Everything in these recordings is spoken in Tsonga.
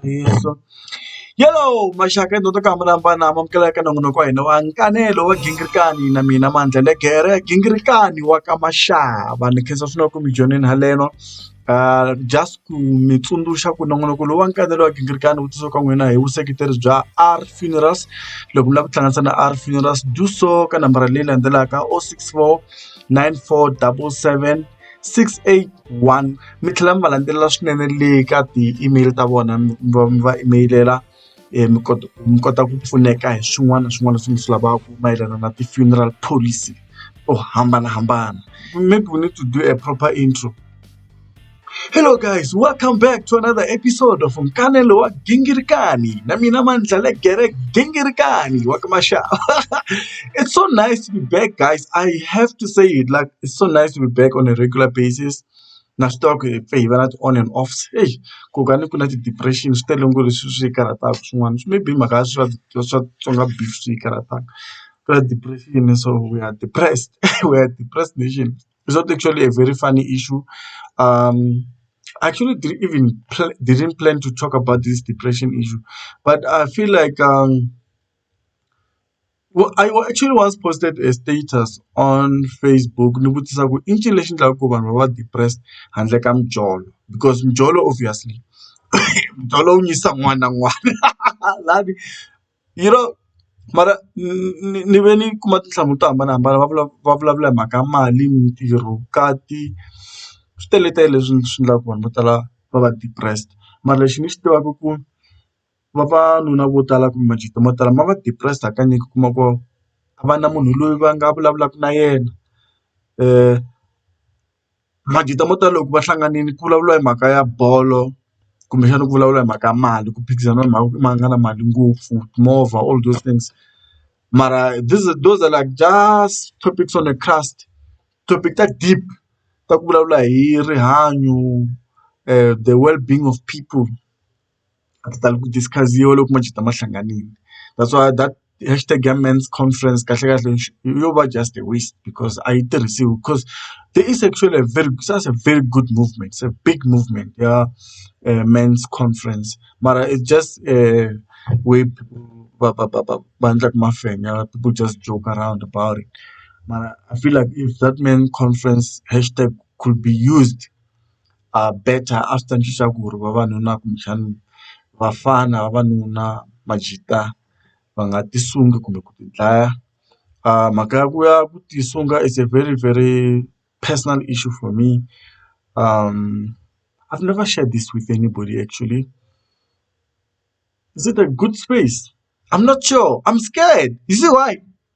Ntiyiso yalo maxaka endzhaku ka ku hambanahambana ma amukela eka nongonoko wa hina wa nkanelo wa ghingirikani na mina Mandlele Gere gingirikani wa ka Mashava ni khensa swinene ku mi join-ini haleno just ku mi tsundzuxa ku nongonoko lowu wa nkanelo wa gingirikani wu tisiwe ka n'wina hi vuseketeri bya R funerals loko mi lava ku tihlanganisa na R funerals do so ka nambara leyi landzelaka o six four nine four double seven. 681 mi tlhela mi va landzelela swinene le ka ti-email ta vona mi va mi va email-ela um mi kota mi kota ku pfuneka hi swin'wana na swin'wana leswi mi swi lavaka mayelana na ti-funeral policy to hambanahambana maybe we need to do a proper intro Hello guys, welcome back to another episode of Nkanelo wa Gingirikani. Na mina Mandlale Gere Gingirikani wa ka Mashava. it's so nice to be back, guys. I have to say it like it's so nice to be back on a regular basis. na swi tiva ku hi pfe hi va na ti-on and offs ei ku ka ni ku na ti-depression swi tele ngo leswi swi karhataka swin'wana swi maybe mhaka ya swa swa tsonga beef swi yi karhataka ku na depression so we are depressed we are depressed nation it's not actually a very funny issue um I actually didn't even pl- didn't plan to talk about this depression issue but I feel like um Wa I wa actually once posted a status on Facebook ni vutisa ku i ncini lexi endlaka ku vanhu va va depressed handle ka mijolo because mijolo obviously mijolo wu nyisa un'wana na un'wana lani you know mara ni ni ve ni kuma tinhlamulo to hambanahambana va vula va vulavula hi mhaka mali mintirho vukati swi teletele leswi swi endlaka ku vanhu vo tala va va depressed mara lexi ni xi tivaka ku. vavanuna vo tala kumbe majito mo tala ma va depressed hakanyingi u kuma ku a va na munhu loyi va nga vulavulaka na yena majito mo tala loko va hlanganile ku vulavuriwa hi mhaka ya bolo kumbexana ku vulavuriwa hi mhaka ya mali ku phikizana hi mhaka ku mani a nga na mali ngopfu timovha all those things mara this those are like just topics on a cast topic ta deep ta ku vulavula hi rihanyo the well being of people. a ti tali ku discuss-iwa loko ma ma hlanganile that's why that hash tag ya men's conference kahlekahle yo va just a waste because a yi tirhisiwi because there is actually a very just a very good movement se big movement ya men's conference mara it's just we're va va va va va endlaka mafenya people just joke around about it mara I feel like if that men conference hash tag could be used. better a swi ta endlisa ku ri vavanuna kumbexana vafana vavanuna va jitha va nga ti sungi kumbe ku ti dlaya mhaka ya ku ya ku ti sunga is a very very personal issue for me I never share this with anybody actually is it a good space I'm not sure I'm scared you see why.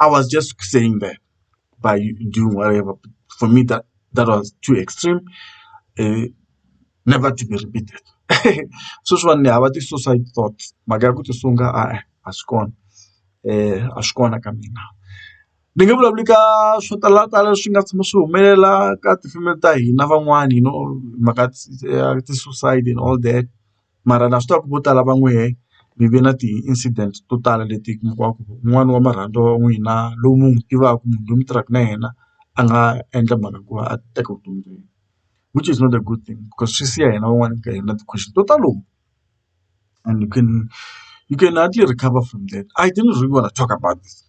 I was just saying that by doing whatever. But for me, that that was too extreme, uh, never to be repeated. sweswi vanhu ni hava ti-suicide thoughts mhaka ya ku tisunga a a swi kona um a swi kona ka mina ni nge vulavuli ka swo talatala swi nga tshama swi humelela ka tifemeli ta hina van'wani you know mhaka ya ti-suicide and all that. mara na swi tiva ku vo tala va n'wehe mi ve na ti-incident to tala leti mi kuma ku un'wani wa marhandziwa wa n'wina lowu mi n'wi tivaku munhu loyi mi tirhaka na yena a nga endla mhaka ku va a teka vutomi bya yena which is not a good thing because swi siya hina van'wani ka hina ti-question to talo and you can you can hardly recover from that I didn't really wanna talk about this.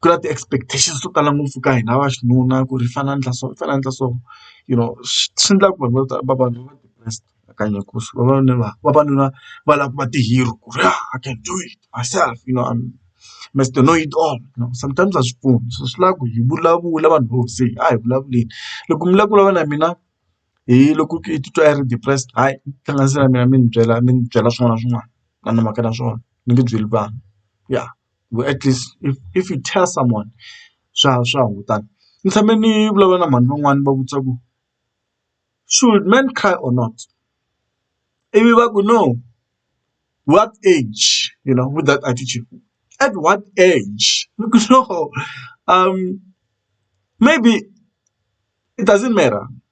ku na ti-expectations to tala ngopfu ka hina va xinuna ku ri hi fanele hi endla so hi fanele hi endla so you know swi endla ku vanhu vo tala vavanuna nakanjhe ku swi vavanuna va vavanuna va lava ku va ti-hero ku ri I can do it myself you know I'm Mister Know It All you know sometimes a swi pfuni so swi lava ku hi vulavula vanhu vo ze a hi vulavuleni loko mi lava ku vulavula na mina hi loko i titwa i ri depressed hayi tihlanganisi na mina mi ni byela mi ni byela swin'wana na swin'wana a ni mhaka na swona ni nge byeli vanhu ya. at least if if you tell someone swa swa hungutana. Ni tshame ni vulavula na mhani van'wani ni va vutisa ku should men cry or not ivi va ku no what age you know with that attitude at what age ni ku no maybe it doesn't matter.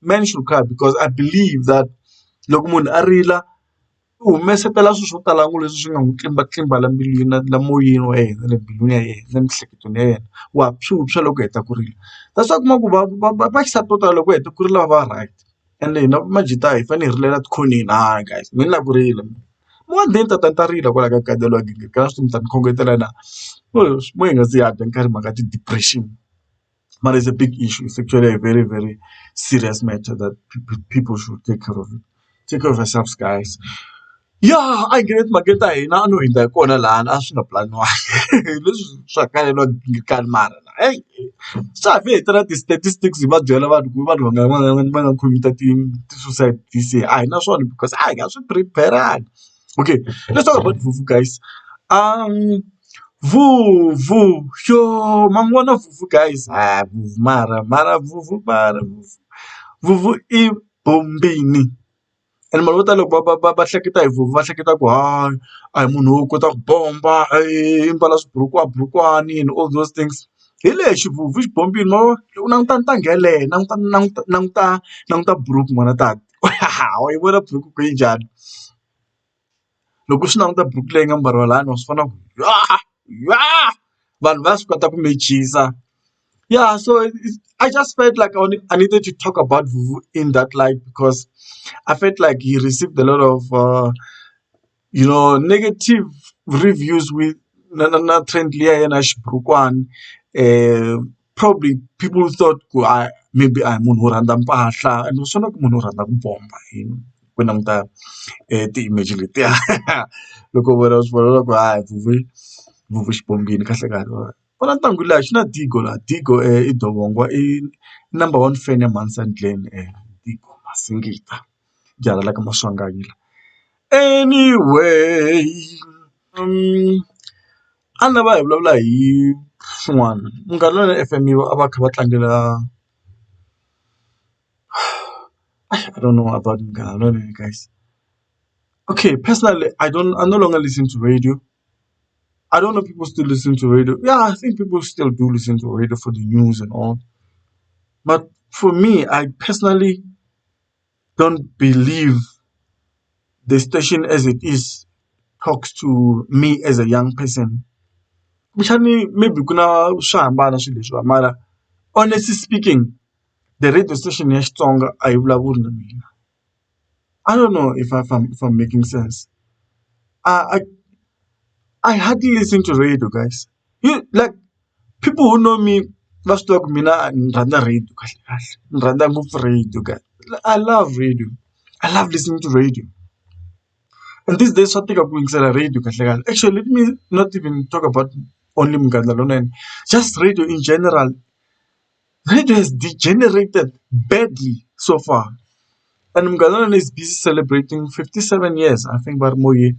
men should cry because I believe that loko munhu a rila u humesela swilo swo tala ngopfu leswi swi nga n'wi tlimba tlimba la mbilwini na la moyeni wa yena le mbilwini ya yena na emiehleketweni ya yena wa swi vupswa loko u heta ku rila that's why u kuma ku va va va va xisati vo tala loko va heta ku rila va va right ende hina majita hi fanele hi rilela etikhoneni hayi guys mina ni lava ku rila mina mo one day ni ta ta ni ta rila kwalaho ka gadelo wa gingirikala swi mi ta ni khongotela na mo hi nga zi hi hanya nkarhi hi mhaka ti-depression. But it's a big issue. It's actually a very, very serious matter that people should take care of it. Take care of yourselves, guys. Yeah, I get it. Maketa hina a no hundza hi kona lahana a swi nga planiwangi leswi swa kale no gingikani mara na hey swa ha fi hi tela ti-statistics hi va byela vanhu ku vanhu va nga va nga va nga commit-a ti ti-suicide this year a hi na swona because a hi nga swi prepare-angi okay let's talk about fufu guys um fufu yoh ma n'wi vona fufu guys ha fufu mara mara fufu mara fufu fufu i bombini and vanhu vo tala loko va va va hleketa hi fufu va hleketa ku hayi a hi munhu wo kota ku bomba i mbala swiburukwani burukwani and all those things hi lexi fufu i xibombini ma vo loko u languta ntangu yeleyo languta languta languta languta buruku n'wana tata. wayivona buruku ku yi njhani loko u swi languta buruku leyi nga mbariwa lani wa swi vona ku vanhu va swi kota ku mechisa ya so I just felt like I needed to talk about vuvu in that light because I felt like he received a lot of. you know negative reviews with na na na trend liya ya yena xiburukwani probably people thought ku a maybe a hi munhu wo rhandza mpahla and u swi vona ku munhu wo rhandza ku bomba yini ku languta ti-image letiya loko vona u swi vona swa ku ha vuyi vuyi xi bombile kahle kahle wena vona ntangu liya xi na digo laha digo i dovongo i number one fan ya mhani Sandland Digo Masingita. byi hangalaka maswanganyi anyway a ni lava hi vulavula hi swin'wana munghana lwani F_M yi a va kha va tlangela I don't know about munghana lwani guys okay personally I don't I no longer listen to radio I don't know people still listen to radio ya I think people still do listen to radio for the news and all but for me I personally. don't believe the station as it is talks to me as a young person kumbexani maybe ku na swo hambana swilo leswiwa mara honestly speaking the radio station ya Xitsonga a yi vulavuli na mina I don't know if I am if I am making sense I I hardly listen to radio guys. Hi like people who know me va swi tiva ku mina ni rhandza radiyo kahle kahle ni rhandza ngopfu radiyo kahle I love radiyo I love listening to radiyo and these days swa tika ku yingisela radiyo kahle kahle actually let me not even talk about only Munghana Lonene just radiyo in general radiyo has degenerated badly so far and Munghana Lonene is busy celebrating fifty seven years I think va ri moyeni.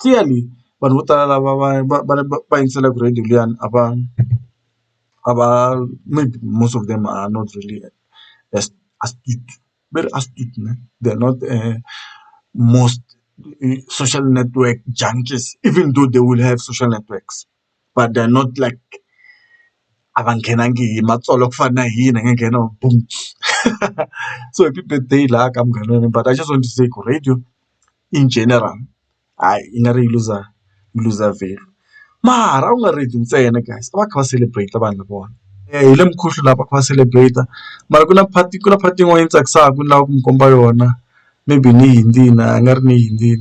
clearly vanhu vo tala lava va va va va va yingiselaka radio liyani a va a va maybe most of them are not really as astute va ri astute na they are not most social network junkies even though they will have social networks. but they are not like a va nghenangi hi matsolwa ku fana na hi hina hi nga nghena boom so happy birthday laha ka munghana wa mina but I just want to say ku radio in general hayi yi nga ri yi luza yi luza value mara a ku nga radio ntsena guys a va kha va celebrate vanhu lavawani hi le mukhuhlu laha va kha va celebrate mara ku na part ku na part yin'wana yi tsakisaka ni lava ku mi komba yona. maybe ni yi ndzi a nga ri ni yi ndzi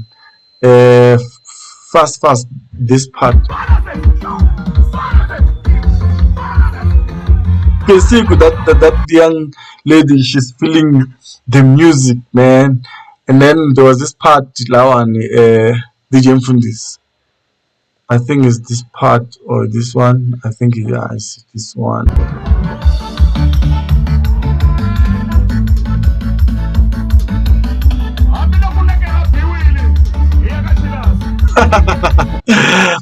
fast fast this part Kesiku that, that that young lady she's feeling the music man and then there was this part lawa ni eh DJ Mfundisi I think it's this part or this one. I think it is this one.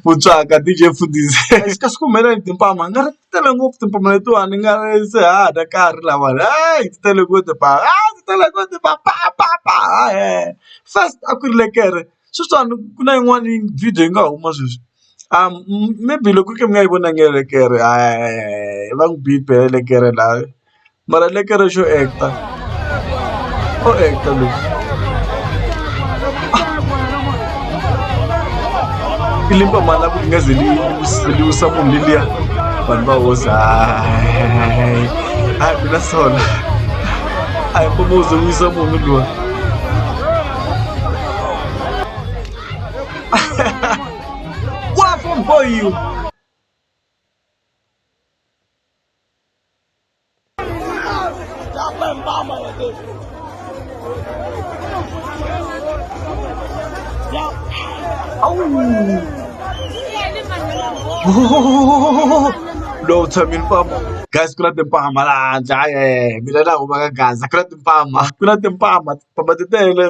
mutswaka DJ Mfundisi xi ka swi kumela ni timpama nga ri tele ngopfu timpama letiwani nga ri se ha dya karhi lawa hayi ti tele ngopfu timpama hayi ti tele ngopfu timpama pa pa pa hayi first a ku ri lekere sweswiwani ku na yin'wani video yi nga huma sweswi maybe loko ku ri ka mi nga yi vonangi elekere va n'wi bipe hi elekere laha mara elekere xo act-a o act-a loyi i limba mali la ku ri nga ze li wisa munhu leliya vanhu va hosi hayi hayi mina sona a hi mboma u ze wisa munhu luwa Waffle for you. Lo tshami ni famba. Guys ku na timpama laha handle a mina na humaka gaza ku na timpama ku na timpama timpama ti tele.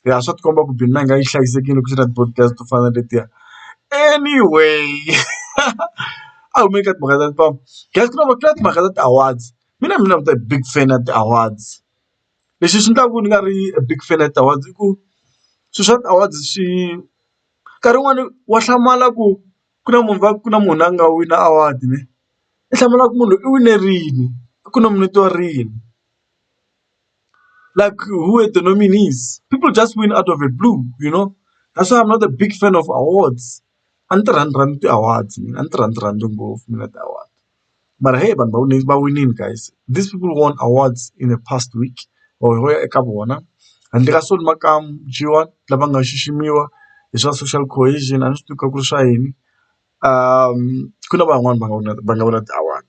Ya swa tikomba ku Benin a yi nga yi hlayisekile loko ku ri na ti-board games to fana na letiya anyway a hi humeni ka timhaka ta ku guys ku na ku na timhaka ta ti-awards mina ni nga big fan ya ti-awards lexi xi endlaka ku ni nga ri big fan ya ti-awards i ku swilo swa ti-awards swi nkarhi wun'wani wa hlamala ku ku na munhu va ku na munhu a nga wina award i hlamala ku munhu loyi i winerile ku nominiwa rini. like who are the nominees people just win out of a blue you know that's why I'm not a big fan of awards a ni ti rhandzi rhandzi ti-awards mina a ni ti rhandzi rhandzi ngopfu mina ti-award mara heyi vanhu va wine va winile guys these people won awards in the past week or ho ya eka vona handle ka Solly Makamu G1 lava nga xiximiwa hi swa social cohesion a ni swi tivi ku ri swa yini ku na van'wani va nga wina va nga wina ti-award.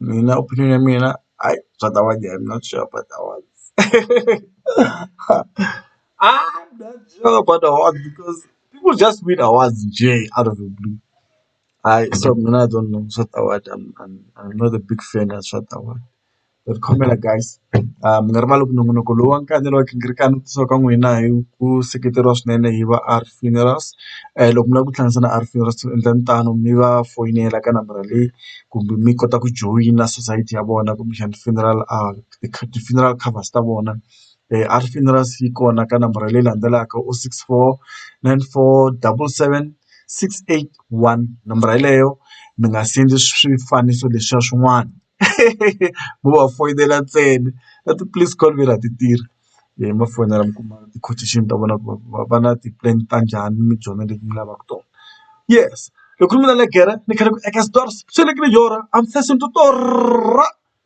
Mina opinion ya mina hayi swa ta avanyisa I'm not sure about that one I'm not sure about that one because people just win awards njee out of the blue hayi so mina I don't know swa ti-award I'm not a big fan ya swa ti-award but khomela guys. Ni nga rivala ku nongonoko lowu wa kandziyelo wa xinghirikani kusuka ka n'wina hi ku seketeriwa swinene hi va R funerals loko mi lava ku tihlanganisa na R funerals endlani tano mi va foyinela ka nambara leyi kumbe mi kota ku joyina sosayiti ya vona kumbexana funeral ti-funeral covers ta vona R funerals yi kona ka nambara leyi landzelaka o six four nine four double seven six eight one nambara yeleyo mi nga send swifaniso leswiya swin'wana. mo va foyinela ntsena na ti-police call vhela a ti tirhi leyi ma foyinela mi kuma ti-quotation ta vona ku va va na ti-plan ta njhani mi byona leti mi lavaka tona yes hi khuluma na le gere ni khale ku eka stores swi fanekele hi yona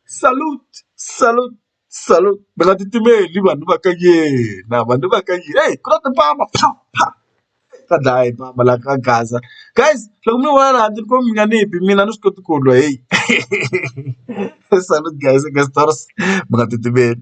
salute salute. Salute ni nga titimeli vanhu va ka yena vanhu va ka yena heyi ku na timbama pha pha ka dlaya hi mbama la ka gaza guys loko mi vona laha handle ni ku mi nga ni bi mina a ni swi koti ku lwa heyi salute guys i guess stars mi nga titimeli.